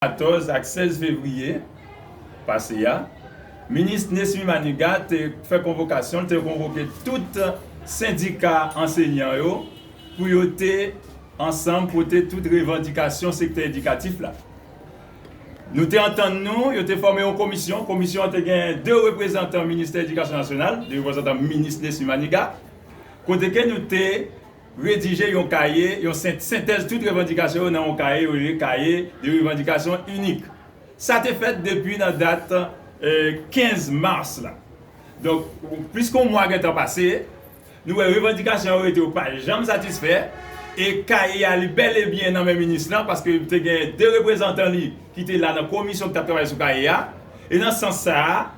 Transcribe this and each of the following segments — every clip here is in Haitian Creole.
14 ak 16 fevriye pase a, minis Nesmy Manigat te fè konvokasyon, l te konvoke tout sendika ansenyan yo pou yo te ansanm pote tout revandikasyon sektè edikatif la. Nou te antann nou, yo te fòme yon komisyon, komisyon an te gen 2 reprezantan ministè edikasyon nasyonal, 2 reprezantan minis Nesmy Manigat, kote ke nou te. Redije yon kaye, yon sentèz tout revandikasyon yo nan yon kaye yo rele kaye de revandikasyon inik. Sa te fèt depi nan dat 15 mas la. Donk, plis ke yon mwa gen tan pase, nou wè revandikasyon yo rete yo pa janm satisfè e kaye a li bèl e byen nan men minis lan paske te gen 2 reprezantan li ki te la nan komisyon ki t ap travay sou kaye a e nan sans sa a,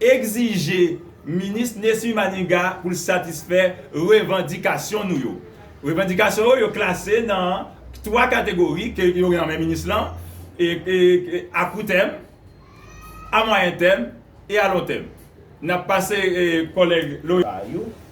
Egzije Minis Nesmy Maniga pou l satisfè revandikasyon nou yo. Revandikasyon yo, yo klase nan 3 kategori ke yo gen nan men minis lan, a kou tèm, a mwayen tèm e a lon tèm. N ap pase kòlèg Loris.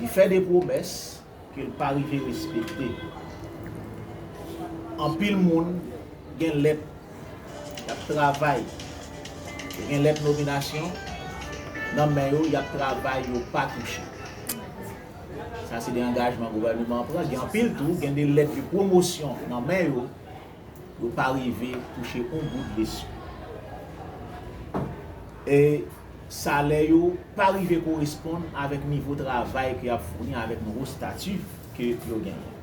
Li fè de pwomès ke l pa rive respekte. Anpil moun gen lèt y ap travay, yo gen lèt nominasyon nan men yo y ap travay yo pa touche. Sa se de angajman gouvèneman an pran. Gen anpil tou gen de lèt de pwomosyon nan men yo. yo pa rive touche yon goud lespri. E salè yo pa rive koresponn avèk nivo travay ke y ap founi avèk nouvo stati ke yo genyen.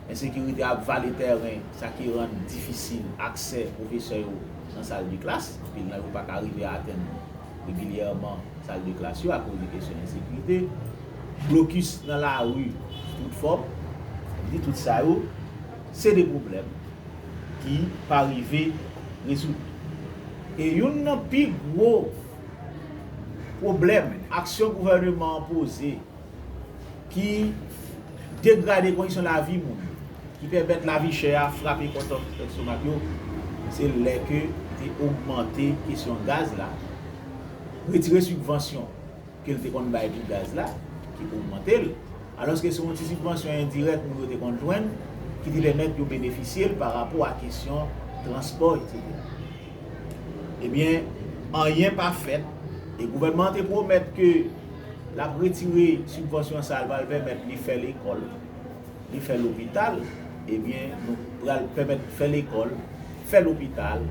Ensekirite ap vale tèren, sa ki rann difisil aksè pwofesè yo nan sal de klas. Anpil nan yo pa ka rive atenn regilyèman sal de klas yo akoz de kesyon ensekirite. Blokis nan lari tout fòm, sa vle di tout sa yo. Se de pwoblèm ki pa rive rezoud. E youn nan pi gwo pwoblèm aksyon gouvèneman an poze ki degrade kondisyon lavi moun yo, ki pèmèt lavi chè a frape kontan lestomak yo, se lè ke te ogmante kesyon gaz la, retire sibvansyon. ke l te konn bay pou gaz la ki te ogmante l, alòske se yon ti sibvansyon endirèk moun yo te konn jwenn ki te pèmèt yo benefisye l pa rapò a kesyon transpò eksetera. Ebyen, anyen pa fèt e gouvènman an te pwomèt ke l ap retire sibvansyon sa l pral pèmèt li fè lekòl. li fè lopital ebyen nou pral pèmèt fè lekòl, fè lopital,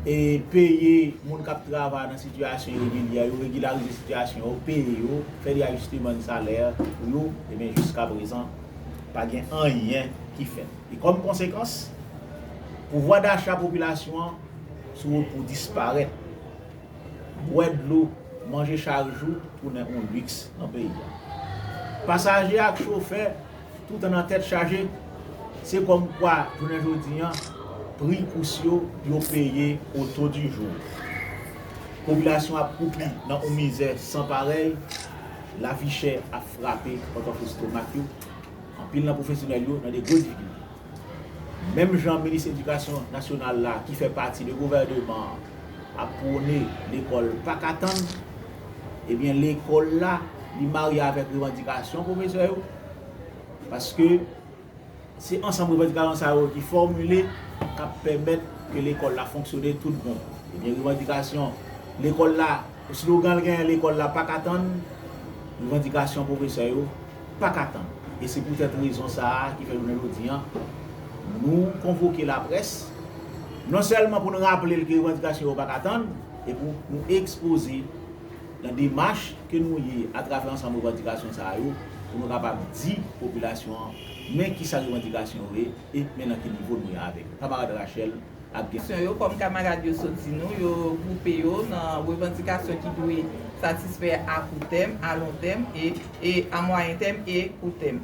e peye moun kap travay nan sitiyasyon iregilyè yo, regilarize sitiyasyon yo, peye yo, fè de ajisteman de salè pou yo, ebyen jiska prezan pa gen anyen ki fèt. E kòm konsekans, pouvwa dacha popilasyon an sou wout pou disparèt. bwè dlo, manje chak jou tounen on liks nan peyi a. Pasaje ak chofè toutan nan tèt chaje, se kòm kwa jounen jodi an pri kous yo yo peye o to di jou. Popilasyon ap kwoupi nan on mizè san parèy, lavi chè ap frape pòtòflestomak yo, anpil nan pwofesyonèl yo nan de gwo difikilte. Menm jan minis edikasyon nasyonal la ki fè pati de gouvèneman an ap pwone lekòl pa ka tann, ebyen lekòl la li marye avèk revandikasyon pwofesè yo paske se ansanm revandikasyon sa yo ki fòmile k ap pèmèt ke lekòl la fonksyone tout bon. Ebyen revandikasyon lekòl la, slogan l genyen lekòl la pa ka tann, revandikasyon pwofesè yo paka tann. E se poutèt rezon sa a ki fè jounen jodi an nou konvoke laprès non sèlman pou n raple l ke revandikasyon yo paka tann e pou nou ekspoze nan demach ke nou ye atravè ansanm revandikasyon sa yo pou nou kapab di popilasyon an men kisa revandikasyon yo ye e men nan ki nivo nou ye avèk Kamarad Rachel. Abkisyon yo, kòm kamarad yo sot di nou, yo gwoupe yo nan revandikasyon ki dwe satisfè a kou tèm, a lon tèm, e a mwayen tèm e kou tèm.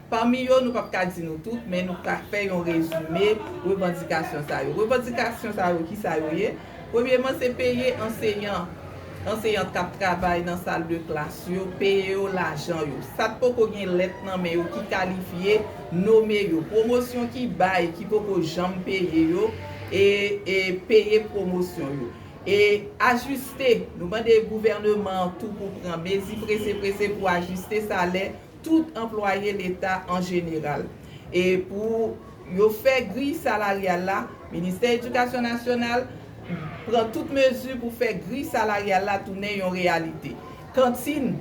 Pami yo, nou pap ka di nou tout, men nou ka fè yon rezime revandikasyon sa yo. Revandikasyon sa yo, ki sa yo ye? Premyeman, se peye anseyan. Anseyant k ap travay nan sal de klas yo peye yo lajan yo. Sa k poko gen lèt nan men yo ki kalifye, nome yo. Pwomosyon ki bay ki poko janm peye yo, e e peye pwomosyon yo. E ajiste, nou mande gouvèneman an tou pou pran mezi prese prese pou ajiste salè. tout anplwaye leta an jeneral. E pou yo fè griy salaryal la, Ministè Edikasyon Nasyonal pran tout mezi pou fè griy salaryal la tounen yon reyalite. Kantin,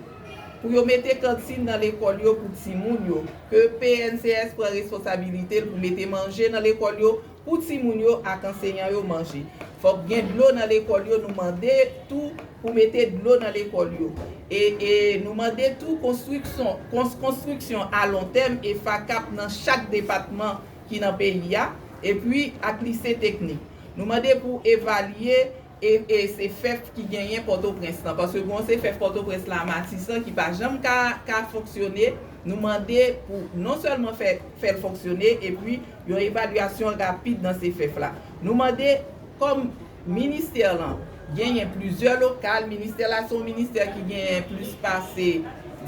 Pou yo mete kantin nan lekòl yo pou timoun yo, ke PNCS pran responsabilite l pou mete manje nan lekòl yo, pou timoun yo ak anseyan yo manje. Fòk gen dlo nan lekòl yo nou mande tou pou mete dlo nan lekòl yo e e nou mande tou konstrikson kons konstriksyon a lon tèm e FACAP nan chak depatman ki nan peyi a epi ak lise teknik nou mande pou evalye E se fèf ki genyen pòtoprens lan paske gon se fèf pòtoprens la matisan ki pa janm ka ka fonksyone nou mande pou non sèlman fè fèl fonksyone epi yon evalyasyon rapid nan se fèf la nou mande kòm ministè lan genyen plizyè lokal ministè la se yon ministè ki genyen plis pase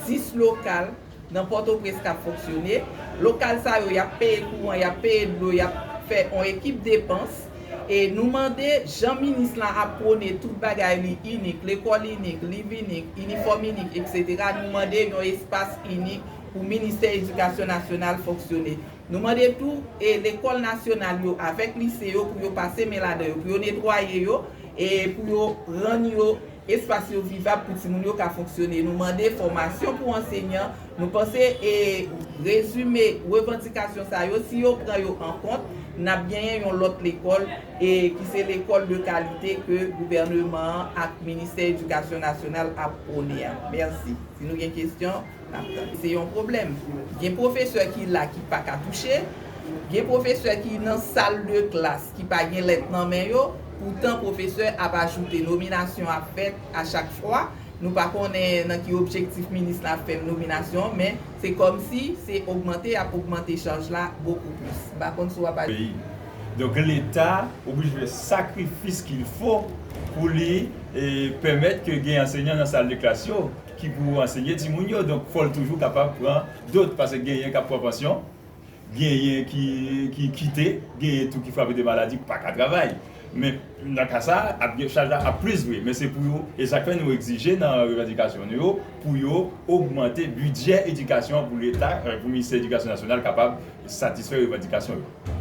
10 lokal. Nan Pòtoprens kap fonksyone, lokal sa yo yap peye kouran, yap peye dlo, yap fè on ekip depans. E nou mande jan minis lan ap pwone tout bagay li inik, lekòl inik, liv inik, inifòm inik etc. Nou mande yon espas inik pou ministè edikasyon nasyonal fonksyone. Nou mande tou e lekòl nasyonal yo avèk lise yo pou yo pase men ladan yo, pou yo netwaye yo e pou yo rann yo. Espas yo vivab pou timoun yo ka fonksyone. Nou mande fòmasyon pou ansenyan. Nou panse e rezime revandikasyon sa yo, si yo pran yo an kont, n ap genyen yon lòt lekòl e ki se lekòl de kalite ke gouvèneman an ak Ministè Edikasyon Nasyonal ap pwone a. Mèsi. Si nou gen kesyon. Se yon pwoblèm. Gen pwofesè ki la ki pa ka touche, gen pwofesè ki nan sal de klas ki pa gen lèt nan men yo, poutan pwofesè ap ajoute nominasyon ap fèt a chak fwa, nou pa konnen nan ki objektif minis la fè nominasyon men se kòm si se ogmante y ap ogmante chaj la bokou plis. M pa konn si w ap aj. Peyi. Donk leta oblije fè sakrifis kilfo pou li pèmèt ke gen ansenyan nan sal de klas yo. ki pou ansenye timoun yo donk fòl toujou kapab pran dot paske genyen kap pran pansyon genyen ki kite genyen tou ki frape de maladi paka travay men nan ka sa chaj la ap plis vre men se pou yo e sak fè nou egzije nan revandikasyon nou yo pou yo ogmante bidjè edikasyon pou leta pou ministè edikasyon nasyonal kapab satisfè revandikasyon yo.